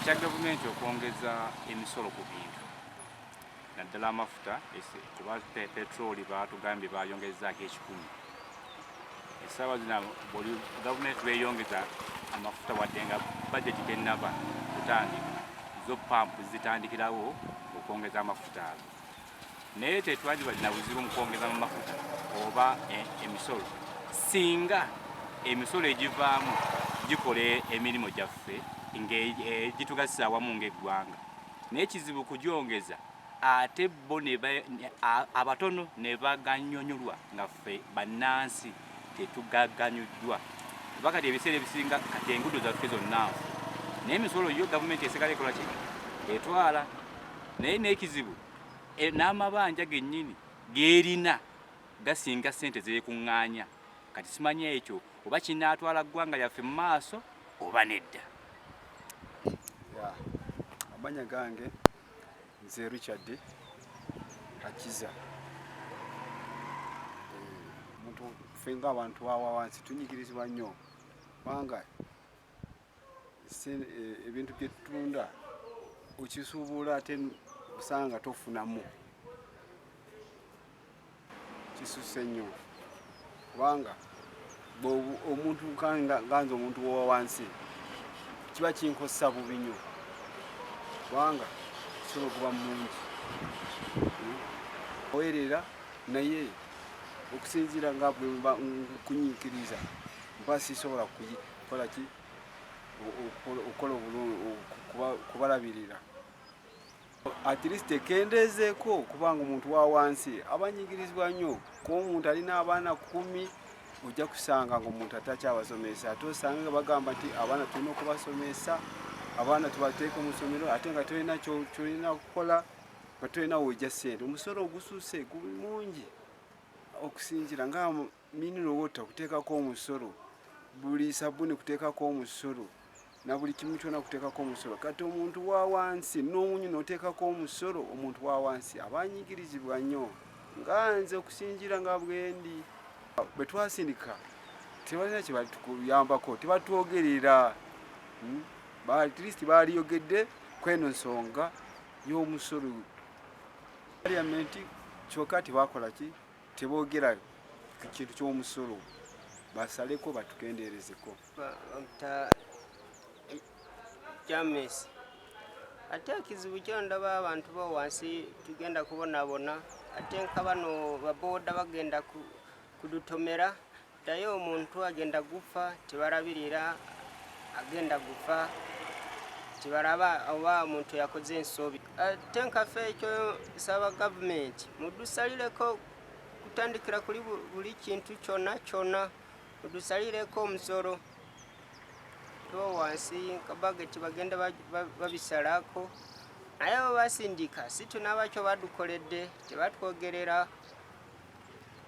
ekya gavumenti okwongeza emisolo ku bintu naddala amafuta kuba petroli baatugambye baayongezaako ekikumi essaawa zina buli gavumenti beeyongeza amafuta wadde nga bajeti tennaba kutandika zo pampu zitandikirawo okwongeza amafuta ago naye tetwali balina buzibu mu kwongeza mu mafuta oba e, emisolo singa emisolo egivaamu gikola emirimu gyaffe ngegitugasa e, awamu ngaeggwanga naye kizibu kugyongeza ate bo abatono ne baganyonyolwa nga Ffe bannansi tetugaganyuddwa kuba kati ebiseera ebisinga kati engudo zaffe zonnansi naye emisolo yo gavumenti esigala ekola ki etwala naye n'ekizibu e, n'amabanja gennyini gerina gasinga ssente zeekuŋŋaanya kati simanyi ekyo oba kinaatwala ggwanga lyaffe mu maaso oba nedda amanya gange Nze Richard Akiza. Omuntu eh, ffe ng'abantu awa wansi tunyigirizibwa nnyo kubanga eh, ebintu bye tutunda okisuubula ate osanga tofunamu. kisuse nnyo kubanga omuntu ganza omuntu wowa wansi kiba kinkosa bubi nnyo kubanga kisobola okuba mungi owerera naye okusinziira nga kunyiikiriza mba sisobola kukola ki okukola okubalabirira at least ekendeezeeko kubanga omuntu wa wansi aba nyigirizibwa nnyo kuba omuntu alina abaana kumi ojja kusanga ngaomuntu atakyabasomesa ate osanga nga bagamba nti abaana tulina okubasomesa abaana tubateeka mu ssomero ate nga tolina kyolina kukola nga tolina wojja ssente omusolo ogususe guli mungi okusinzira nga Mineral water kuteekako omusolo, buli sabuni kuteekako omusolo na buli kimu kyona kuteekako omusolo. Kati omuntu wa wansi n'omunyu n'oteekako omusolo, omuntu wa wansi aba anyigirizibwa nnyo. Nga nze okusinziira nga bwendi bwe twasindika tebalina kye batukuyambako, tebatwogerera hmm? at least baaliyogedde kweno nsonga y'omusolo parliament kyoka tebakola ki tebogera ku kintu ky'omusolo basaleko batukendeerezeko james ate ekizibu kyondaba abantu bo wansi tugenda kubonabona ate nka bano baboda bagenda kudutomera Naye omuntu agenda guffa tebalabirira agenda guffa tebalaba oba omuntu yakoze ensobi ate nkafe ekyo saba gavumenti mudusalireko kutandikira kuli buli kintu kyona kyona mudusalireko omusolo tuba wansi kabageti bagenda babisalako naye basindika situnabakyo badukoledde tebatwogerera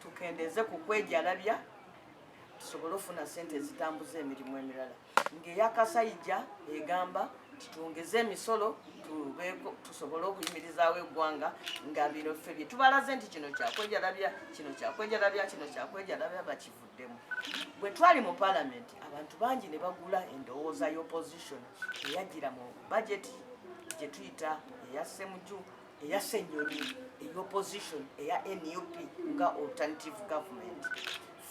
tukendeeze ku kwejalabya tusobole ofuna sente ezitambuza emirimu emirala ng'eyakasayija egamba titwongeze emisolo tusobole okuyimirizaawo eggwanga nga bino ffe bye tubalaze nti kino kyakwejalabya kino kyakwejalabya kino kyakwejalabya bakivuddemu bwe twali mu palamenti abantu bangi ne bagula endowooza y'opposition eyajjira mu bajeti gye tuyita eya semuju eya senyonyi eya opposition eya nup nga alternative government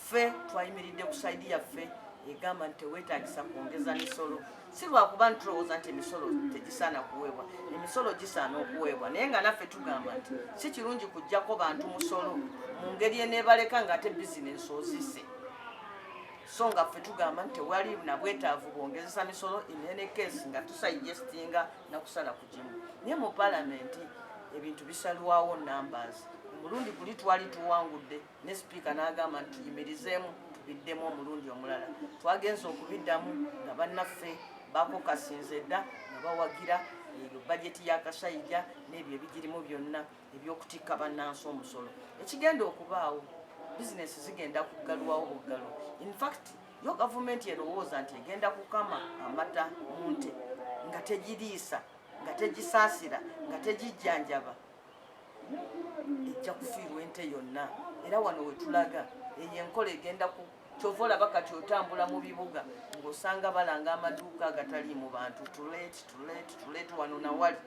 ffe twayimiridde ku saidi yaffe egamba nti tewetagisa kwongeza misolo si lwakuba nti tulowooza nti emisolo tegisaana kuweebwa emisolo gisaana okuweebwa naye nga naffe tugamba nti si kirungi kujjako bantu musolo mu ngeri eneebaleka nga ate bizinensi ozise so nga ffe tugamba nti tewali nabwetaavu bwongezesa misolo in any case nga tusayijestinga nakusala naye mu palamenti ebintu bisalwawo numbers omulundi guli twali tuwangudde ne sipiika n'agamba nti tuyimirizeemu tubiddemu omulundi omulala twagenza okubiddamu nga bannaffe bakokasinze dda nga bawagira eyo bajeti ya kasayija n'ebyo ebigirimu byonna ebyokutikka bannansi omusolo ekigenda okubaawo bizinesi zigenda kuggalwawo buggalwa infact yo gavumenti erowooza nti egenda kukama amata mu nte nga tegiriisa nga tegisaasira nga tegijjanjaba ejja kufiirwa ente yonna era wano wetulaga eyo enkola egenda ku kyova olaba kati otambula mu bibuga ng'osanga balanga amaduuka agatali mu bantu tulet tulet tulet wano nawali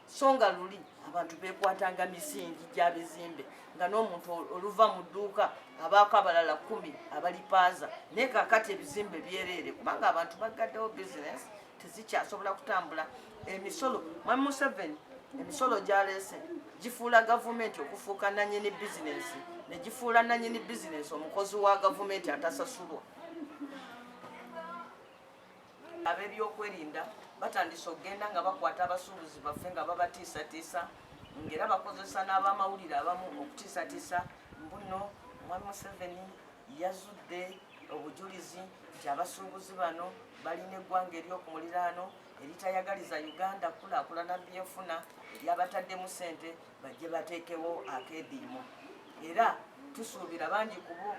so nga luli abantu bekwatanga misingi gya bizimbe nga n'omuntu oluva mu dduuka abaako abalala kumi abalipaaza naye kakati ebizimbe byereere kubanga abantu bagaddewo bizinesi tezikyasobola kutambula emisolo mwami museveni emisolo gyaleese gifuula gavumenti okufuuka nanyini bizinesi negifuula nanyini bizinesi omukozi wa gavumenti atasasulwa Ab'ebyokwerinda batandise okugenda nga bakwata abasuubuzi baffe nga babatiisatiisa ng'era bakozesa n'abamawulire abamu okutiisatiisa mbuno omwami Museveni yazudde obujulizi nti abasuubuzi bano balina eggwanga ery'oku muliraano eritayagaliza Uganda kulaakulana byenfuna eryabataddemu ssente bajje bateekewo akeediimo era tusuubira bangi kubo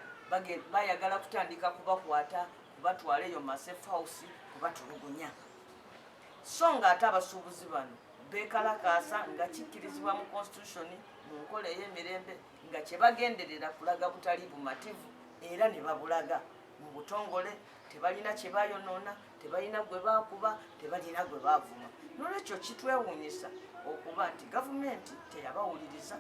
bayagala kutandika kubakwata kubatwala eyo masef house kubatulugunya so ng'ate abasuubuzi bano beekalakaasa nga kikkirizibwa mu konstitutioni mu nkola ey'emirembe nga kye bagenderera kulaga butali bumativu era ne babulaga mu butongole tebalina kye bayonoona tebalina gwe baakuba tebalina gwe baavuma nolwekyo kitwewuunyisa okuba nti gavumenti teyabawuliriza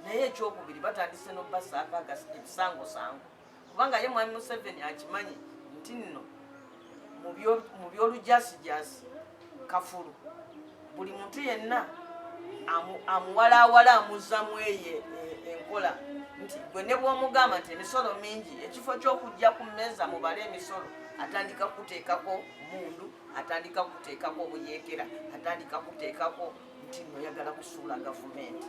naye ekyokubiri batandise n'okubasaako ebisangosango kubanga ye mwami museveni akimanyi nti nno mu byolujasijasi kafulu buli muntu yenna amuwalaawala amuzzamu eye e, enkola nti gwe ne bwomugamba nti emisolo mingi ekifo ky'okujja ku mmeeza mubale emisolo atandika kukuteekako mundu atandika kukuteekako obuyeekera atandika kuteekako nti noyagala kusuula gavumenti